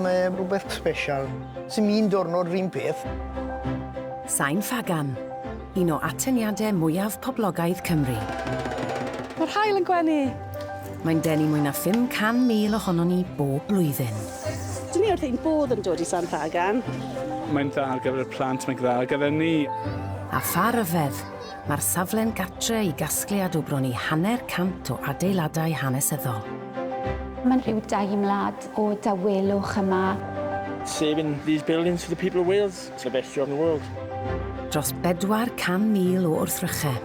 Mae rhywbeth special. Sy'n un diwrnod rhywun peth. Sain Ffagan, un o atyniadau mwyaf poblogaidd Cymru. Mae'r haul yn gwenu! Mae'n denu mwy na 500,000 ohonon ni bob blwyddyn. Dyn ni wrth ein bodd yn dod i Sain Ffagan. Mae'n dda ar gyfer y plant, mae'n dda ar gyfer ni. A pha ryfedd! Mae'r safle'n gartre i gasgliad o bron i hanner cant o adeiladau hanesyddol. Mae'n rhyw deimlad o dawelwch yma. Saving these buildings for the people of Wales, it's the best job in the world. Dros 400,000 o wrthrychau.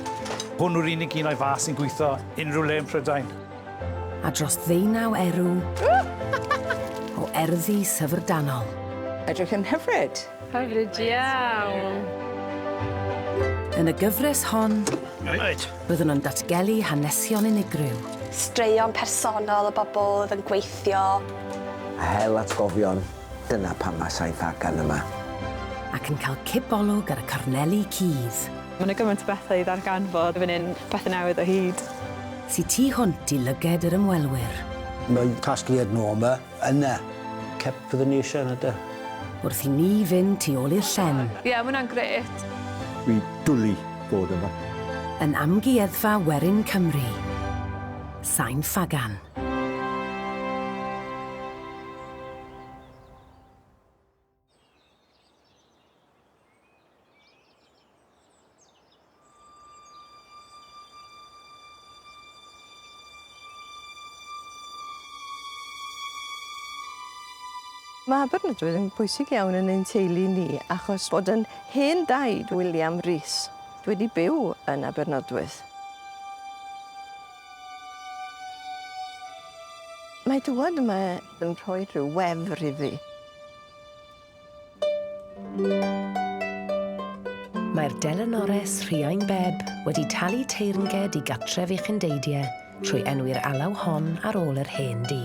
Hwn yw'r unig un o'i fath sy'n gweithio unrhyw le yn Prydain. A dros ddeunaw erw o erddi syfrdanol. Edrych yn hyfryd! Hyfryd iawn! Yn y gyfres hon, byddwn yn datgelu hanesion unigryw. Straeon personol o bobl oedd yn gweithio. A hel atgofion, dyna pam mae Saith Agan yma. Ac yn cael cipolwg ar y corneli cudd. Mae 'na gymaint o bethau i ddarganfod fan hyn, pethau newydd o hyd. Sy tu hwnt i lyged yr ymwelwyr. Mae casgliad Norma Yna, cep fyddwn ni eisiau yna de. Wrth i ni fynd tu ôl i'r llen. Ie, mae hwnna'n grêt. Dwi dwli bod yma. Yn Amgueddfa Werin Cymru. Sain Ffagan. Mae Aberystwyth yn bwysig iawn yn ein teulu ni achos bod yn hen daid William Rees wedi byw yn Abernodwyth. Mae dŵad yma yn rhoi rhyw wefr iddi. Mae'r delynores Rhiain Bebb wedi talu teyrnged i Gatref Uchendeidie trwy enwi'r alaw hon ar ôl yr hen dŷ.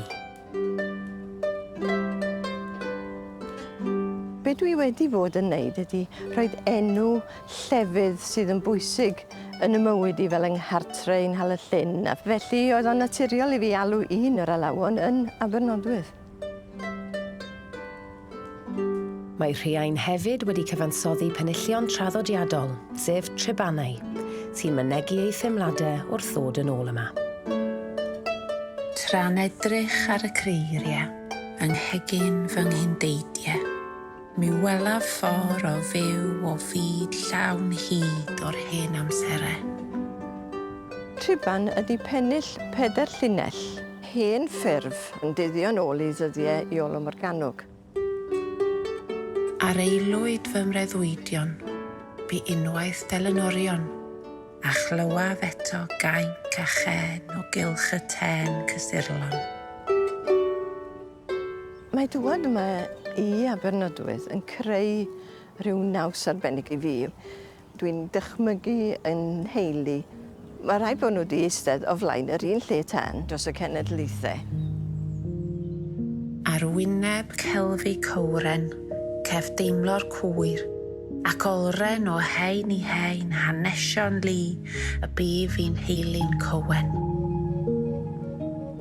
Be dwi wedi fod yn neud ydi rhoid enw llefydd sydd yn bwysig yn y mywyd i fel yng Nghartre i Nhal-y-llyn a felly oedd o'n naturiol i fi alw un o'r alawon yn Abernodwydd. Mae Rhiain hefyd wedi cyfansoddi penillion traddodiadol, sef Trebanau, sy'n mynegi ei theimladau wrth ddod yn ôl yma. Tra'n edrych ar y creiriau yng nghegin fy nghyn-deidie. Mi welaf ffor o fyw o fyd llawn hyd o'r hen amsere. Triban ydi pennill peder llinell. Hen ffurf yn dyddio yn ôl i ddyddie Iolo Morganwg. Ar aelwyd fy mreuddwydion, bu unwaith delynorion, a chlywaf eto gainc a chên o gylch y tên cysurlon. Mae dŵad yma i Abernadoedd yn creu rhyw naws arbennig i fi. Dwi'n dychmygu yn nheulu, mae rhaid bod nhw wedi eistedd o flaen yr un lle tân dros y cenedlaethau. Ar wyneb Kelvie Cowren, cef deimlo'r cwyr, ac olren o hen i hen hanesion lu y bu fi'n nheulu'n Cowen.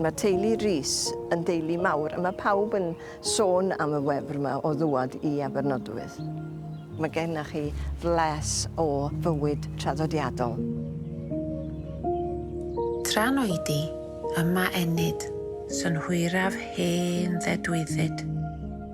Mae teulu Rees yn deulu mawr a mae pawb yn sôn am y wefr yma o ddŵad i Abernodowydd. Mae gennych chi fles o fywyd traddodiadol. Tra'n oedi, yma ennyd, synhwyraf hen ddedwyddyd.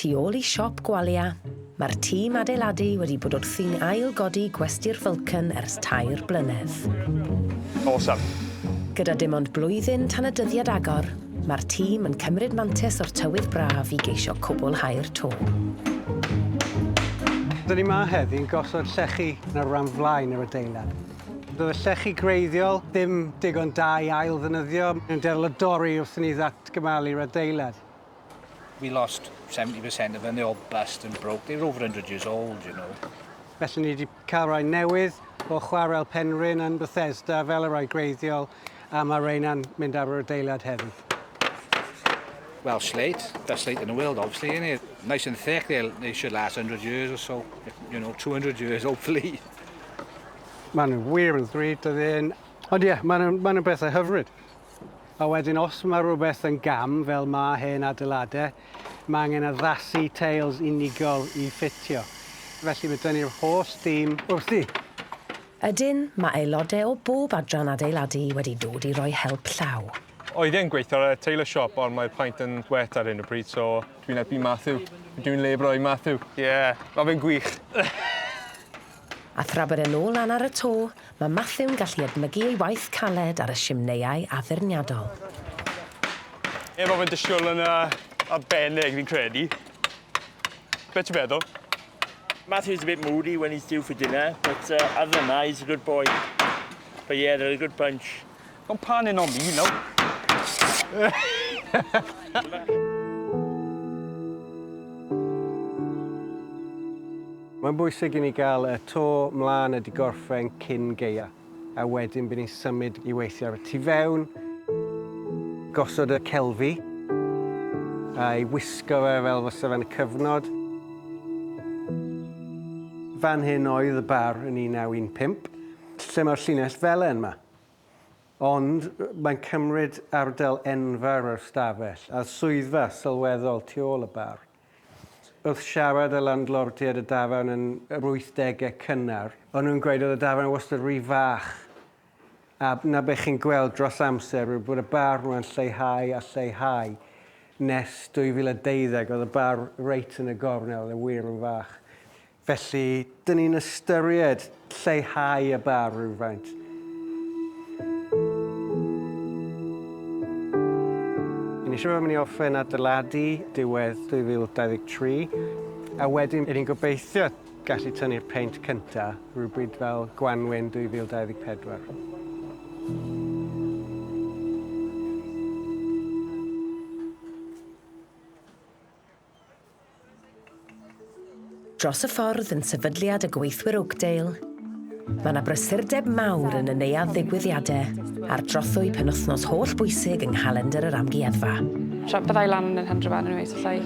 Tu ôl i siop gwalia, mae'r tîm adeiladu wedi bod wrthi'n ail-godi gwesty'r Vulcan ers tair blynedd. Awesome. Gyda dim ond blwyddyn tan y dyddiad agor, Mae'r tîm yn cymryd mantais o'r tywydd braf i geisio cwblhau'r to. Dyn ni 'ma heddi yn gosod llechi yn yr ran flaen yr adeilad. Doedd y llechi gwreiddiol ddim digon da i ail ddynyddio, yn dueddol o dorri wrth i ni ddatgymalu'r adeilad. We lost 70% of them, they all bust and broke, they were over hundred years old, you know. Felly ni 'di Cael rhain newydd o Chwarel Penrhyn yn Bethesda fel y rhai gwreiddiol a mae rheina'n mynd ar yr adeilad heddi. Well, slate, best slate in the world, obviously, isn't it? Nice and thick, they'll, they should last 100 years or so, you know, 200 years, hopefully. Maen nhw wir yn ddrud o ddyn. Ond ie, yeah, maen nhw'n ma nhw bethau hyfryd. A wedyn, os mae rhywbeth yn gam, fel mae hen adeiladau, Mae angen addasu teils unigol i ffitio, felly mae tynnu'r holl stîm wrthi. Ydyn, mae aelodau o bob adran adeiladu wedi dod i roi help llaw. Oedd e'n gweithio ar y tailor shop ond mae'r paent yn wet ar hyn o bryd so... Dwi'n helpu Matthew. Dwi'n labourer i Matthew. Ie, mae fe'n gwych. A thra bod e'n ôl lan ar y to, mae Matthew'n gallu edmygu ei waith caled ar y simneiau addurniadol. Ie, mae fe'n dystiol yn arbennig, fi'n credu. Be ti'n meddwl? Matthew's a bit moody when he's due for dinner, but uh, other than that, he's a good boy. But yeah, they're a good bunch. Don't pan in on me, no. Mae'n bwysig i ni gael y to mlaen a digorffen cyn geia, a wedyn by ni'n symud i weithio ar y tu fewn, gosod y celfi, a'i wisgo fe fel fysa fe'n y cyfnod. Fan hyn oedd y bar yn 1915. Lle mae'r llinell felen 'ma? Ond mae'n cymryd ardal enfawr o'r stafell, a swyddfa sylweddol tu ôl y bar. Wrth siarad â landlordiaid y dafarn yn yr wythdegau cynnar, o'n nhw'n gweud oedd y dafarn wastad rhy fach, a 'na be chi'n gweld dros amser yw bod y bar 'ma'n lleihau a lleihau. Nes 2012 oedd y bar reit yn y gornel, oedd e wir yn fach. Felly, dyn ni'n ystyried lleihau y bar rywfaint. Yn eisiau bod yn mynd i orffen adeiladu diwedd 2023, a wedyn ni'n gobeithio gallu tynnu'r peint cyntaf rhywbryd fel gwanwyn 2024. Dros y ffordd yn sefydliad y gweithwyr Oakdale, mae yna brysurdeb mawr yn y neuadd ddigwyddiadau a'r trothwy penwythnos holl bwysig yng nghalendr yr amgueddfa. Tra byddai lan yn Henry Van yn weithio llai.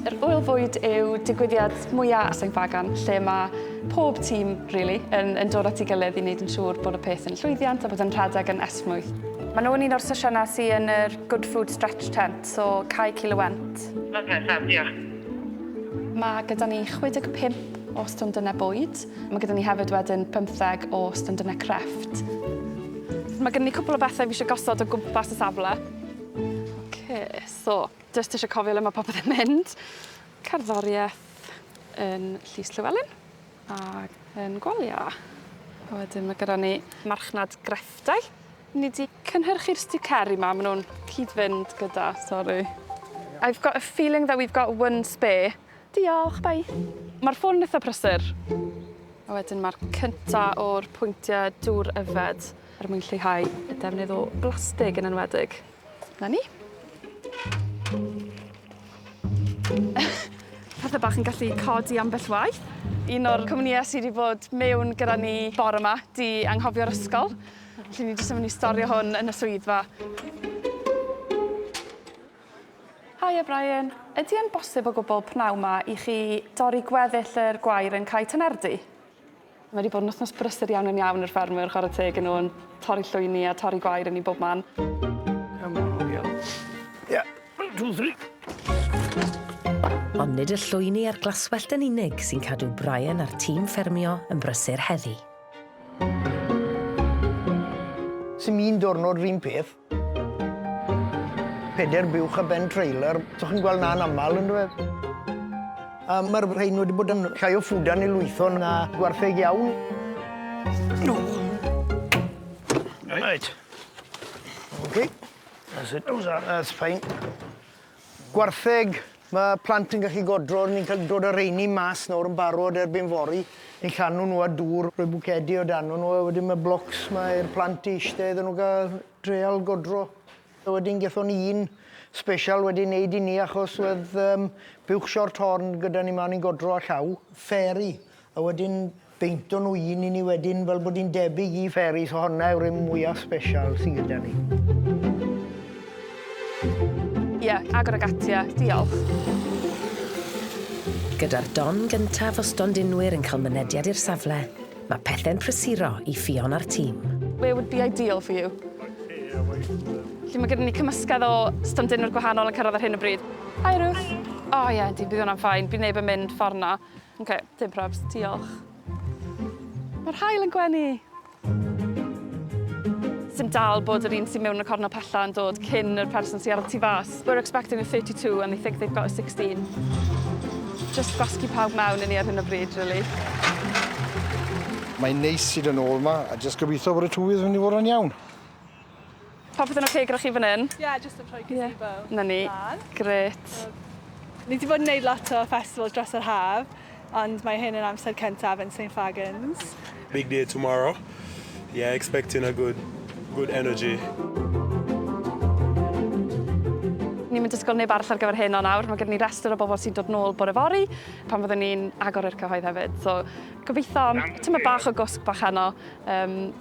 Yr Ŵyl Fwyd yw digwyddiad mwyaf a Sain Fagan, lle mae pob tîm, really, yn, yn dod at ei gilydd i wneud yn siŵr bod y peth yn llwyddiant a bod yn rhedeg yn esmwyth. Maen nhw'n un o'r sesiynau sy'n yn yr Good Food Stretch Tent. So, cae cil y went. Lyfli, da, diolch. Mae gyda ni 65 o stondynau bwyd. Mae gyda ni hefyd wedyn 15 o stondynau crefft. Mae gen i cwpl o bethau fi eisiau gosod o gwmpas y safle. OK, so, jyst eisiau cofio le mae popeth yn mynd. Cerddoriaeth yn Llys Llewelyn a yn Gwalia. A wedyn mae gyda ni marchnad grefftau. Ni 'di cynhyrchu'r sticeri 'ma, ma' nhw'n cyd-fynd gyda, sori. I've got a feeling that we've got one spare. Diolch, bye. Ma'r ffôn yn itha prysur. A wedyn ma'r cynta o'r pwyntie dŵr yfed er mwyn lleihau y defnydd o blastig yn enwedig. 'Na ni. Pethe bach yn gallu codi ambell waith. Un o'r cwmnïe sy 'di bod mewn gyda ni bore 'ma 'di anghofio'r ysgol. Felly ni jyst yn myn' i storio hwn yn y swyddfa. Haia Brian. Ydi e'n bosib o gwbwl pnawn 'ma i chi dorri gweddill yr gwair yn Cae Tynerdy? Mae 'di bod yn wthnos brysur iawn yn iawn i'r ffermwyr chware teg i nw yn torri llwyni a torri gwair i ni bob man. Come on girl. Yeah. One two three. Ond nid y llwyni a'r glaswellt yn unig sy'n cadw Brian a'r tîm ffermio yn brysur heddi. Sim un diwrnod yr un peth. Peder buwch ar ben trailer, so chi'n gweld 'na'n aml on'd yw e? A ma'r rhein wedi bod yn llai o ffwdan i lwytho na gwartheg iawn. O! Reit. Ok. That's it. How's that? That's fine. Gwartheg, ma' plant yn gallu godro, ni'n cael dod â reini mas nawr yn barod erbyn fory, ni'n llanw nhw â dŵr, rhoi bwcedi o dano nhw a wedyn ma' blocs 'ma i'r plant i ishte iddyn nhw ga'l treial godro. A wedyn gethon ni un sbesial wedi neud i ni achos wedd yym buwch short horn gyda ni 'ma o'n ni'n godro â llaw, fairy, a wedyn Peintwn nhw un i ni wedyn fel bod hi'n debyg i fairy so honna yw'r un mwyaf sbesial sydd gyda ni. Ie, agor ag ati a diolch. Gyda'r don gyntaf o stondinwyr yn cael mynediad i'r safle, mae pethe'n prysuro i Ffion a'r tîm. Where would be ideal for you? Felly mae gyda ni cymysgedd o stondinwyr gwahanol yn cyrraedd ar hyn o bryd. Hi Ruth. O ie, yndi, bydd hwnna'n fine, bydd neb yn mynd ffordd 'na. Ok, dim probs, diolch. Mae'r hael yn gwenu! Sy'n dal bod yr un sy'n mewn yn y cornel pella yn dod cyn yr person sy'n ar y tu fas. We're expecting a 32 and they think they've got a 16. Just gwasgu pawb mewn i ni ar hyn o bryd, really. Mae'n neis i dyn ôl ma, a just gobeithio bod y tywydd yn mynd i fod yn iawn. Popeth yn oce gyda chi fan hyn? Ie, yeah, jyst yn rhoi gazebo. Yeah. Na ni. Gret. Ni wedi bod yn gwneud lot o festivals dros yr haf, ond mae hyn yn amser cyntaf yn St Fagans. Big day tomorrow. Yeah, expecting a good, good energy. Ni'n mynd ysgol neb arall ar gyfer hyn o nawr. Mae gen ni restr o bobl sy'n dod nôl bore fori pan fyddwn ni'n agor i'r cyhoedd hefyd. So, gobeithio, tyma bach o gwsg bach heno. Um,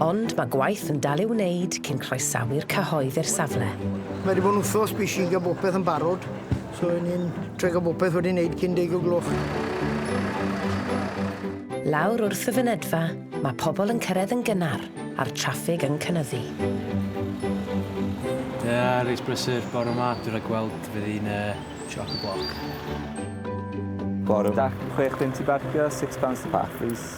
Ond mae gwaith yn dal i'w wneud cyn croesawu'r cyhoedd i'r safle. Mae wedi bod yn wthos bwys i gael bopeth yn barod, so ry'n ni'n trio gael bopeth wedi wneud cyn deg o gloch. Lawr wrth y fynedfa, mae pobl yn cyrraedd yn gynnar a'r traffig yn cynyddu. Ie, reit brysur bore yma, dwi rhag gweld fy hun yy chock-a-block. Bore da. Chwech punt i barcio, six pounds to park please.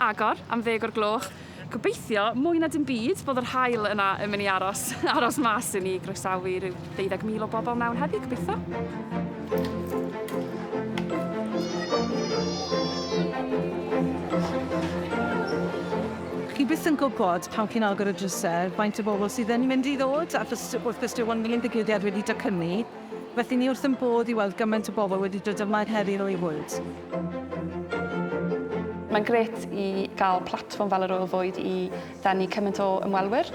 agor am ddeg o'r gloch. Gobeithio, mwy na dim byd, bod yr haul yna yn mynd i aros, aros mas i ni groesawu rhyw 20,000 o bobl mewn heddi, gobeithio. Chi byth yn gwybod, pan chi'n agor y drysau, faint o bobl sydd yn mynd i ddod, achos wrth gwrs dyw hwn ddim yn ddigwyddiad wedi docynu. Felly ni wrth ein bodd i weld gymaint o bobl wedi dod yma er heriau eu bwyd. Mae'n grêt i gael platfform fel yr Ŵyl Fwyd i ddenu cymaint o ymwelwyr.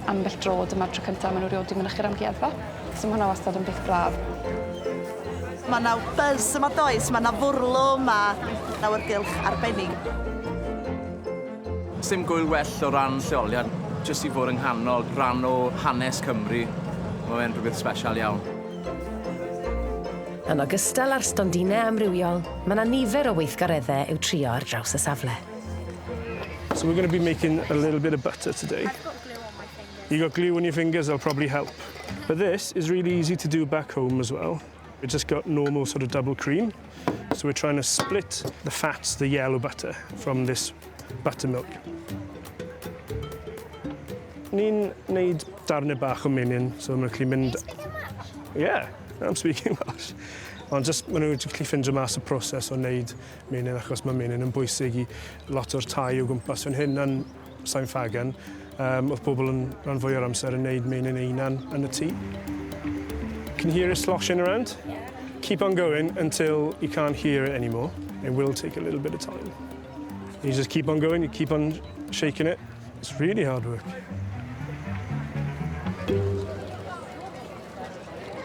Ambell dro, dyma'r tro cyntaf maen nhw rioed wedi mynychu'r amgueddfa, so mae hwnna wastad yn beth braf. Mae yna buzz yma does, mae yna fwrlwm a awyrgylch arbennig. Sdim gŵyl well o ran lleoliad, jyst i fod yng nghanol rhan o hanes Cymru, mae fe'n rhywbeth sbesial iawn. Yn ogystal â'r stondinau amrywiol, mae 'na nifer o weithgareddau i'w trio ar draws y safle. So we're going to be making a little bit of butter today. I've got glue on my fingers. You got glue on your fingers, that'll probably help. But this is really easy to do back home as well. We've just got normal sort of double cream. So we're trying to split the fats, the yellow butter, from this buttermilk. Ni'n neud darnau bach o menyn, so mae'n gallu mynd... Yeah, I'm speaking Welsh. Ond just, maen nhw'n gallu ffindio mas y proses o wneud menyn, achos mae menyn yn bwysig i lot o'r tai o gwmpas fan hyn. Sain Ffagan, um, oedd pobl yn rhan fwy o'r amser yn neud meinin einan yn y tŷ. Can you hear it sloshing around? Keep on going until you can't hear it anymore. It will take a little bit of time. You just keep on going, you keep on shaking it. It's really hard work.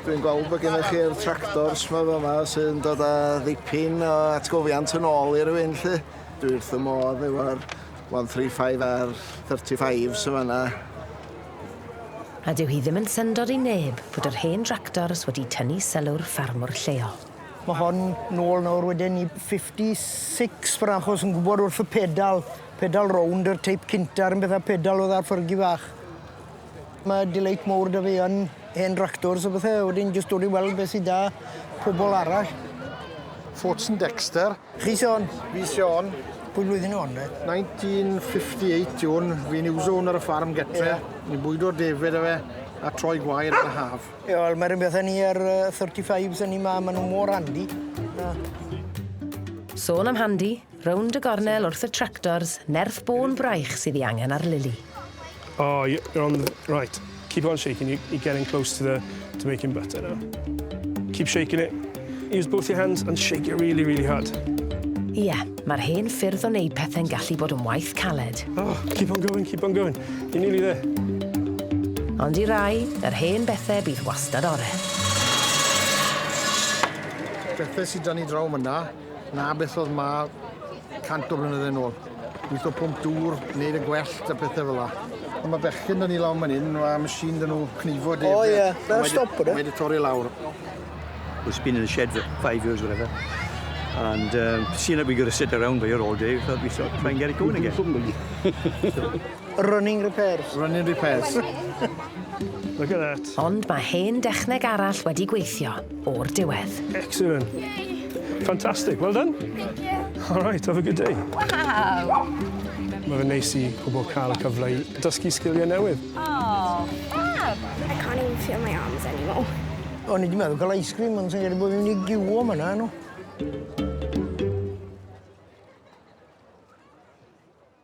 Dwi'n gweld bod gennych chi'r tractors ma yma sy'n dod â ddipyn o atgofiant yn ôl i rywun lle. Dwi wrth y modd efo'r 135 a'r 35s yn fanna. A dyw hi ddim yn syndod i neb fod yr hen dractors wedi tynnu sylw'r ffarmwr lleol. Mae hon nôl nawr wedyn i 56 ffor 'na achos yn gwbod wrth y pedal, pedal rownd yr teip cynta a'r un peth â'r pedal oedd ar Fergie fach. Mae delight mowr 'da fi yn hen ractors a bethe a wedyn jyst dod i weld be' sy 'da pobol arall. Forts and Dexter. Chi Siôn? Fi Siôn. Pwy flwyddyn o 'wn de? 1958 yw 'wn. Fi'n uwso 'wn ar y ffarm gytre. Ie. Ni'n bwydo defaid 'da fe a troi gwair yn y haf. Ie wel ma' run beth â ni a'r yy thirty fives o'n ni 'ma ma' nw mor handi. Sôn am handi, Rownd y gornel wrth y tractors, nerth bôn braich sydd ei angen ar Lili. Oh, you're on the... right. Keep on shaking, you, you're getting close to, the, to making butter now. Keep shaking it. Use both your hands and shake it really, really hard. Ie, yeah, mae'r hen ffyrdd o wneud pethau'n gallu bod yn waith caled. Oh, keep on going, keep on going. You're nearly there. Ond i rai, yr hen bethau bydd wastad ore. Bethau sydd dan ni draw myna. Na beth oedd ma 100 o flynydde yn ôl. Wyth o pump dŵr, wneud y gwellt a pethau fel la. Ond mae bechgyn dyn ni lawn man hyn, mae machine dyn nhw cnifo deg. O ie, fel stop bod e? Mae wedi torri lawr. It's been in the shed for five years, whatever. And um, seeing that we got to sit around here all day, we thought, we thought, try and get it going again. so. Running repairs. Running repairs. Look at that. Ond mae hen dechneg arall wedi gweithio o'r diwedd. Excellent. Fantastic. Well done. Thank you. All right, have a good day. Wow. Mae fe neis i pobl cael y cyfle i dysgu sgiliau newydd. Oh, fab. I can't even feel my arms anymore. O'n i wedi meddwl cael ice cream, ond sy'n gyrru bod fi'n mynd i giwo am yna, nhw.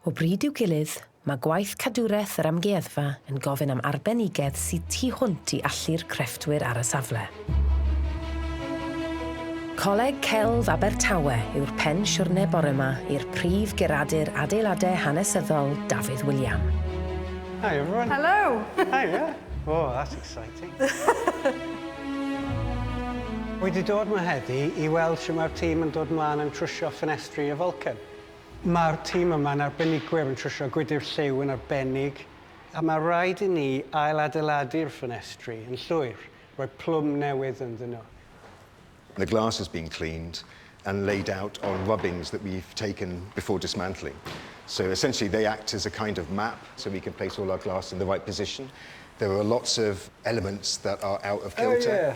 O bryd i'w gilydd, mae gwaith cadwraeth yr amgueddfa yn gofyn am arbenigedd sydd tu hwnt i allu'r crefftwyr ar y safle. Coleg Celf Abertawe yw'r pen siwrne bore ma i'r prif guradur adeiladau hanesyddol, Dafydd William. Hi everyone. Hello! Hi, yeah. Oh, that's exciting. Wy di dod ma heddi i weld sut mae'r tîm yn dod mlaen yn trwsio ffenestri y Vulcan. Mae'r tîm yma yn arbenigwyr yn trwsio gwydr lliw yn arbennig. A mae rhaid i ni ail-adeiladu'r ffenestri yn llwyr, rhoi plwm newydd ynddyn nhw. The glass has been cleaned and laid out on rubbings that we've taken before dismantling. So essentially they act as a kind of map so we can place all our glass in the right position. There are lots of elements that are out of kilter.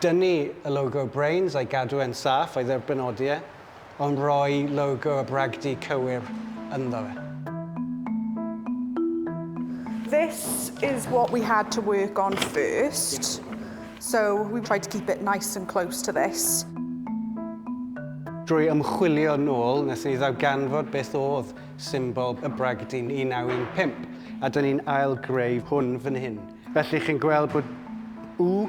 Dynnu y logo Brains a'i gadw e'n saff a'i dderbynnodi e, ond rhoi logo a bragdy cywir ynddo fe. This is what we had to work on first, so we tried to keep it nice and close to this. Drwy ymchwilio nôl, wnaethon ni ddarganfod beth oedd symbol y bragdy 1915, a 'dyn ni'n ail-greu hwn fan hyn. Felly chi'n gweld bod U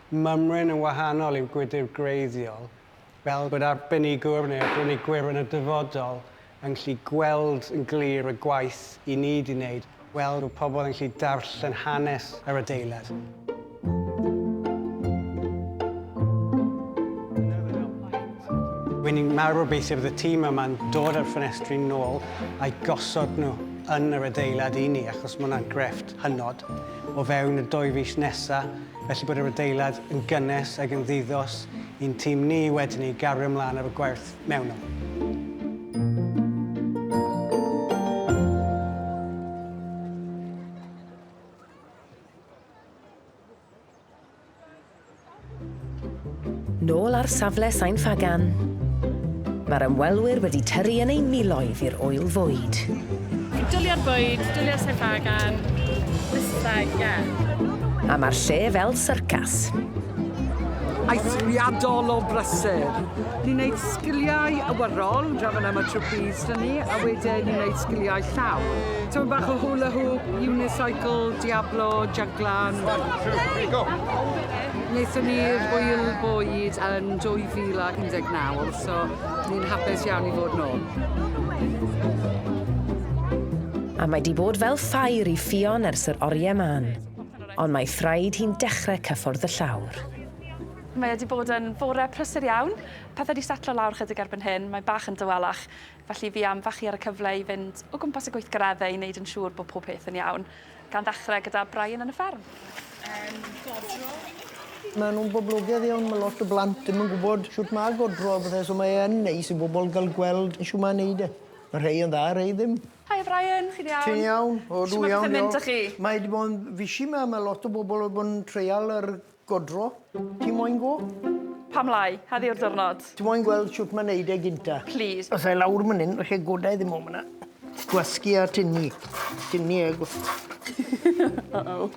Mymryn yn wahanol i'w gwydr gwreiddiol, fel bod arbenigwr neu arbenigwyr yn y dyfodol yn gallu gweld yn glir y gwaith i ni 'di wneud, weld bod pobl yn gallu darllen hanes yr adeilad. Wy' ni'n mawr obeithio bydd y tîm yma'n dod â'r ffenestri nôl a'u gosod nhw yn yr adeilad i ni, achos ma' hwnna'n grefft. hynod o fewn y dwy fis nesa, felly bod yr adeilad yn gynnes ag yn ddiddos i'n tîm ni i wedyn ni gario mlaen ar y gwerth mewnol. Nôl ar safle Sain Ffagan, mae'r ymwelwyr wedi tyrru yn eu miloedd i'r ŵyl fwyd. Dwlia'r bwyd, dwlia'r Sain Ffagan, Wista, ie. A mae'r lle fel syrcas. Eithriadol o brysur. Ni'n gwneud sgiliau awyrol, draw fan am y trapeze 'da ni, a wedyn ni'n gwneud sgiliau llaw. Tymed bach o hula hoop, unicycle, diablo, jyglan. Wnaethon ni'r hwyl bwyd yn 2019, so ni'n hapus iawn i fod nôl. A mae di bod fel ffair i Ffion ers yr oriau man, ond mae thraed hi'n dechrau cyffordd y llawr. Mae wedi bod yn fore prysur iawn. Pethau wedi setlo lawr chydig erbyn hyn, mae bach yn dawelach. Felly fi am fachu ar y cyfle i fynd o gwmpas y gweithgareddau i wneud yn siŵr bod pob peth yn iawn, gan ddechrau gyda Brian yn y fferm. Yym, godro. Maen nhw'n boblogedd iawn, mae lot o blant ddim yn gwybod shwt mae godro a pethau, so mae e yn neis i bobl gael gweld shwt mae'n wneud e. Mae rhai yn dda, rhai ddim. Haia Brian, chi'n iawn? Ti'n iawn? O, dw iawn, diolch. Shwt mae pethau'n mynd 'da chi? Mae 'di bod yn fishi 'ma, mae lot o bobl wedi bod yn treial yr Godro? Ti moyn go? Pam lai? Heddi yw'r diwrnod. Ti moyn gweld shwt mae'n neud e gynta? Plîs. Os ai lawr myn 'yn, falle goda i ddim o myn 'na. Gwasgu a tynnu. Tynnu a gw... Uh-oh.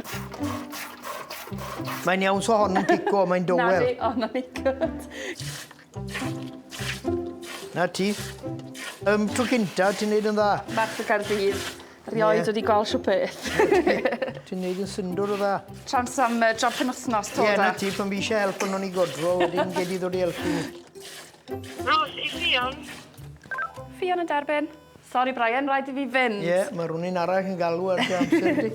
Mae'n iawn, so hon yn pico, mae'n dywel. Na oh, na ni good. Na ti. Ym tro cynta, ti'n neud yn dda. Merch y Caerdydd. Rioed wedi gweld siw peth. Ti'n neud yn syndwr o dda. Trans am uh, job penwthnos, to da. Ie, na ti, pan fi eisiau help yn o'n i godro, wedyn gedi ddod i helpu ni. Ros, i Fion. Fion yn derbyn. Sorry, Brian, rhaid i fi fynd. Ie, yeah, mae rhywun arall yn galw ar dy amser di.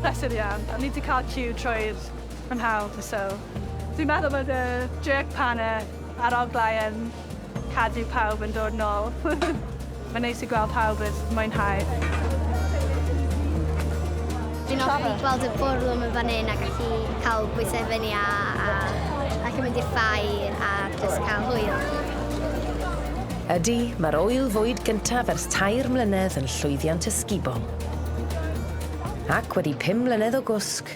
Pleser iawn. O'n i wedi cael ciw trwy'r Mae'n hawdd fy sylw. Dwi'n meddwl bod y jerk pan y aroglau yn cadw pawb yn dod nôl. Mae'n neis i gweld pawb yn mwynhau. Dwi'n hoffi gweld y bwrlwm yn fan hyn a gallu cael bwysau fyny a, a gallu mynd i'r ffair a just cael hwyl. Ydy, mae'r ŵyl fwyd gyntaf ers tair mlynedd yn llwyddiant ysgubol. Ac wedi pum mlynedd o gwsg,